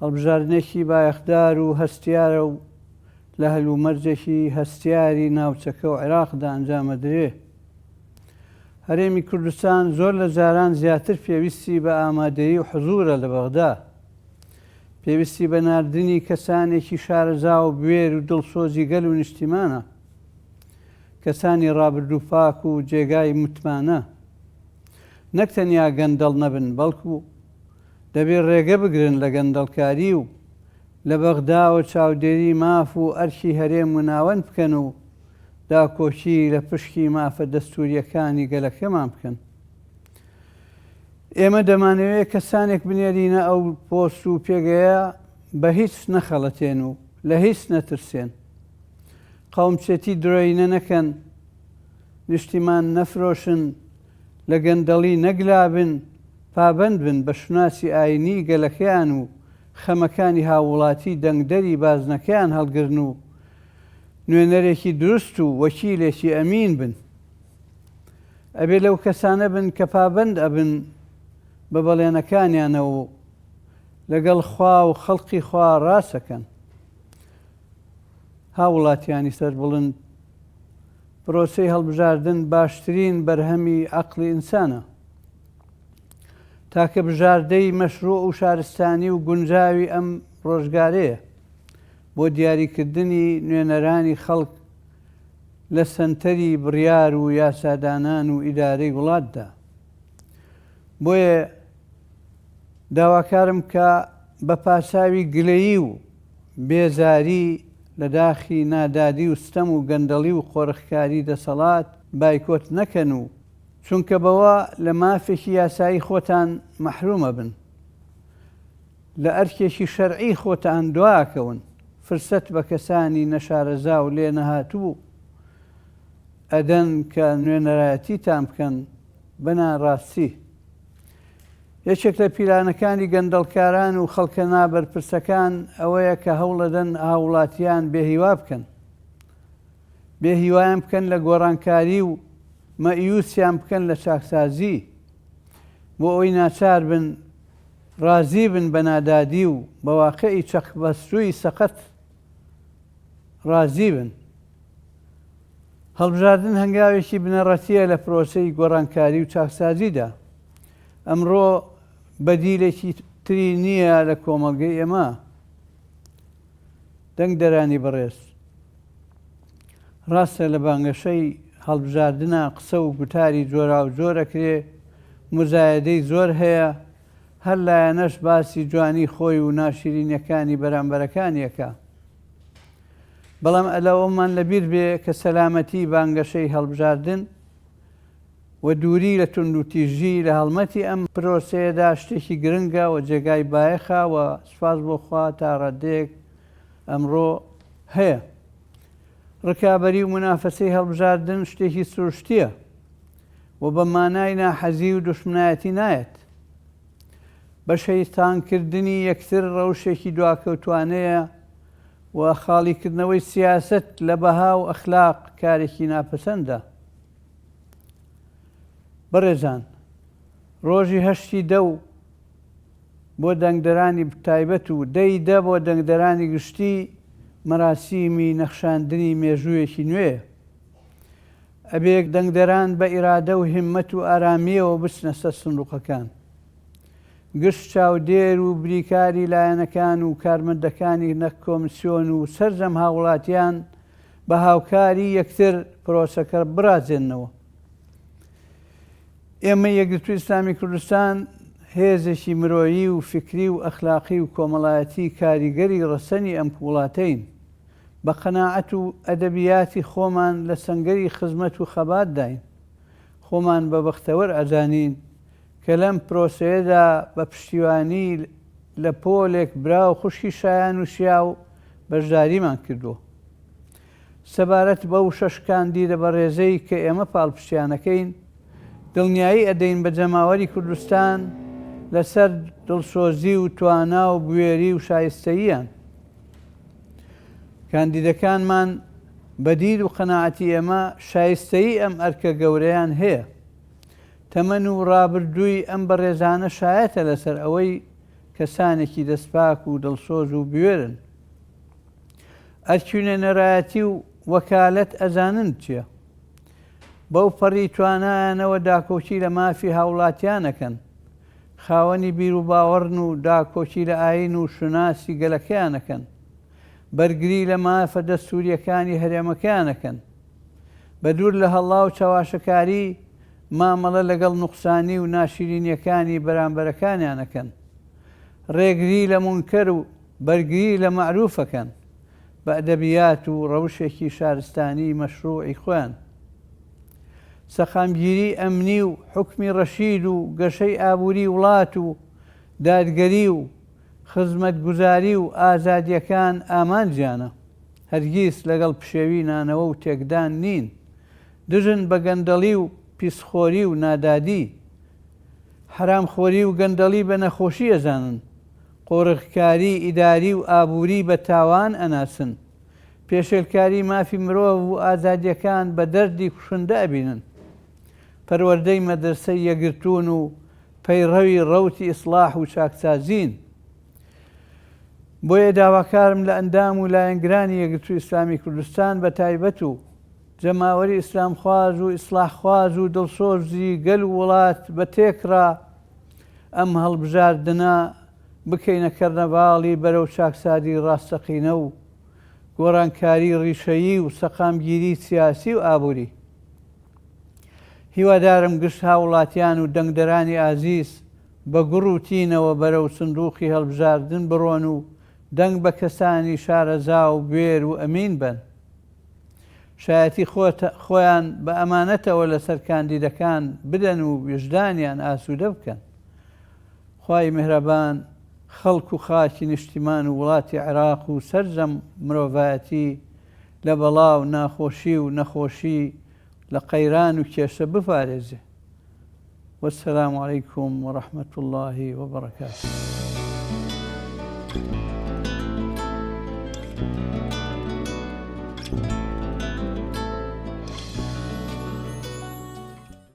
هەڵبژاردنێکی بایەخدار و هەستیارە و لە هەلومەرجێکی هەستیاری ناوچەکە و عێراقدا ئەنجامەدرێ. هەرێمی کوردستان زۆر لە جاران زیاتر پێویستی بە ئامادەیی و حزوورە لە بەغدا. پێویستی بە ناردنی کەسانێکی شارەزا و بوێر و دڵسۆزی گەل و نیشتیمانە. کەسانی ڕابردوو پاک و جێگای متمانە. نەک تەنیا گەندەڵ نەبن، بەڵکوو. دەبێت ڕێگە بگرن لە گەندەڵکاری و لە بەغداوە چاودێری ماف و ئەرکی هەرێم و ناوەند بکەن و داکۆکی لە پشکی مافە دەستوورییەکانی گەلەکەمان بکەن. ئێمە دەمانەوێت کەسانێک بنێرینە ئەو پۆست و پێگەیە بە هیچ نەخەڵەتێن و لە هیچ نەترسێن. قەومچێتی درۆینە نەکەن، نیشتیمان نەفرۆشن، لە گەندەڵی نەگلابن، پابەند بن بە شوناسی ئایینیی گەلەکەیان و خەمەکانی هاووڵاتیی دەنگدەری بازنەکەیان هەڵگرن و نوێنەرێکی دروست و وەکیلێکی ئەمین بن. ئەبێ لەو کەسانە بن کە پابەند ئەبن بە بەڵێنەکانیانەوە و لەگەڵ خوا و خەڵقی خوا ڕاست ئەکەن. هاووڵاتییانی سەربڵند، پرۆسەی هەڵبژاردن باشترین بەرهەمی عەقڵی ئینسانە. تاکە بژاردەی مەشروع و شارستانی و گونجاوی ئەم ڕۆژگارەیە بۆ دیاریکردنی نوێنەرانی خەڵک لە سەنتەری بڕیار و یاسادانان و ئیدارەی وڵاتدا بۆیە داواکارم کە بە پاساوی گلەیی و بێزاری لە داخی نادادی و ستەم و گەندەڵی و قۆرخکاری دەسەڵات بایکۆت نەکەن و چونکە بەوە لە مافێکی یاسایی خۆتان مەحروم ئەبن، لە ئەرکێکی شەرعی خۆتان دوائەکەون، فرسەت بە کەسانی نەشارەزا و لێنەهاتوو ئەدەن کە نوێنەرایەتیتان بکەن، بە ناڕاستی یەکێک لە پیلانەکانی گەندەڵکاران و خەڵکە نابەرپرسەکان ئەوەیە کە هەوڵەدەن هاووڵاتیان بێهیوا بکەن. بێ هیوایان بکەن لە گۆڕانکاری و مەئیوسیان بکەن لە چاکسازی بۆ ئەوەی ناچار بن ڕازی بن بە نادادی و بە واقعی چەقبەستووی سەقەت ڕازی بن هەڵبژاردن هەنگاوێکی بنەڕەتیە لە پرۆسەی گۆڕانکاری و چاکسازیدا ئەمڕۆ بەدیلێکی تری نییە لە کۆمەڵگەی ئێمە دەنگدەرانی بەڕێز، ڕاستە لە بانگەشەی هەڵبژاردنا قسە و گوتاری جۆراوجۆر ئەکرێ، موزایەدەی زۆر هەیە، هەر لایەنەش باسی جوانی خۆی و ناشیرینیەکانی بەرامبەرەکانی ئەکا. بەڵام ئەلە ئەوەمان لەبیر بێ کە سەلامەتی بانگەشەی هەڵبژاردن، و دووری لە توندوتیژی لە هەڵمەتی ئەم پرۆسەیەدا شتێکی گرنگە و جێگای بایەخە و سوپاس بۆ خوا تا ڕاددەیەک ئەمڕۆ هەیە. ڕکابەری و مونافەسەی هەڵبژاردن شتێکی سروشتییە و بە مانای ناحەزی و دوشمنایەتی نایەت. بەشەیتانکردنی یەکتر ڕەوشێکی دواکەوتوانەیە و خاڵیکردنەوەی سیاسەت لە بەها و ئەخلاق کارێکی ناپەسەندە. بەڕێزان ڕۆژی هەشتی دە و بۆ دەنگدەرانی تایبەت و دە ی دە بۆ دەنگدەرانی گشتی مەراسیمی نەخشاندنی مێژوویەکی نوێیە. ئەبێ دەنگدەران بە ئیرادە و هیممەت و ئارامییەوە بچنە سەر سندوقەکان. گشت چاودێر و بریکاری لایەنەکان و کارمەندەکانی نەک کۆمسیۆن و سەرجەم هاووڵاتیان بە هاوکاری یەکتر پرۆسەکە بڕازێننەوە. ئێمە یەکگرتووی ئیسلامی کوردستان هێزێکی مرۆیی و فیکری و ئەخلاقی و کۆمەڵایەتی کاریگەری ڕەسەنی ئەم وڵاتەین. بە قەناعەت و ئەدەبیاتی خۆمان لە سەنگەری خزمەت و خەباتداین. خۆمان بە بەختەوەر ئەزانین کە لەم پرۆسەیەدا بە پشتیوانی لە پۆلێک برا و خوشکی شایان و شیاو بەشداریمان کردووە. سەبارەت بەو شەش کاندیدە بەڕێزەی کە ئێمە پاڵپشتیانەکەین، دڵنیایی ئەدەین بە جەماوەری کوردستان لەسەر دڵسۆزی و توانا و بوێری و شایستەییان. کاندیدەکانمان بە دید و قەناعەتی ئێمە شایستەیی ئەم ئەرکە گەورەیان هەیە. تەمەن و ڕابردووی ئەم بەڕێزانە شایەتە لەسەر ئەوەی کەسانێکی دەستپاک و دڵسۆز و بوێرن. ئەرکی و نوێنەرایەتی و وەکالەت ئەزانن چیە. بەو پەڕی توانایانەوە داکۆکی لە مافی هاوڵاتیان ئەکەن. خاوەنی بیروباوەڕن و داکۆکی لە ئایین و شوناسی گەلەکەیان ئەکەن. بەرگری لە مافە دەستوورییەکانی هەرێمەکەیان ئەکەن. بە دوور لە هەڵا و چەواشەکاری، مامەڵە لەگەڵ نوقسانی و ناشیرینییەکانی بەرامبەرەکانیان ئەکەن. ڕێگری لە مونکەر و بەرگری لە مەعروف ئەکەن، بە ئەدەبیات و ڕەوشێکی شارستانیی مەشڕووعی خۆیان. سەقامگیریی ئەمنی و حوکمی ڕەشید و گەشەی ئابووریی وڵات و دادگەری و خزمەتگوزاری و ئازادییەکان ئامانجیانە، هەرگیز لەگەڵ پشێوی نانەوە و تێکدان نین، دژن بە گەندەڵی و پیسخۆری و نادادی، حەرامخۆری و گەندەڵی بە نەخۆشی ئەزانن، قۆرغکاری ئیداری و ئابووری بە تاوان ئەناسن، پێشێلکاری مافی مرۆڤ و ئازادییەکان بە دەردی کوشندە ئەبینن. پەروەردەی مەدرەسەی یەکگرتوون و پەیڕەوی ڕەوتی ئیسڵاح و چاکسازین، بۆیە داواکارم لە ئەندام و لایەنگرانی یەکگرتووی ئیسلامی کوردستان بە تایبەت و جەماوەری ئیسلامخواز و ئیسڵاحخواز و دڵسۆزی گەل و وڵات بە تێکڕا ئەم هەڵبژاردنە بکەینە کەرنەڤاڵی بەرەو چاکسازی ڕاستەقینە و گۆڕانکاری ڕیشەیی و سەقامگیری سیاسی و ئابووری. هیوادارم گشت هاوڵاتیان و دەنگدەرانی ئازیز بە گوڕ و تینەوە بەرەو سندوقی هەڵبژاردن بڕۆن و دەنگ بە کەسانی شارەزا و بوێر و ئەمین بەن شایەتی خۆیان بە ئەمانەتەوە لەسەر کاندیدەکان بدەن و ویژدانیان ئاسوودە بکەن. خوای میهرەبان خەڵک و خاکی نیشتیمان و وڵاتی عێراق و سەرجەم مرۆڤایەتی لە بەڵا و ناخۆشی و نەخۆشی لە قەیران و کێشە بپارێزێ والسلام علیکم ورحمة اللە وبرکاته.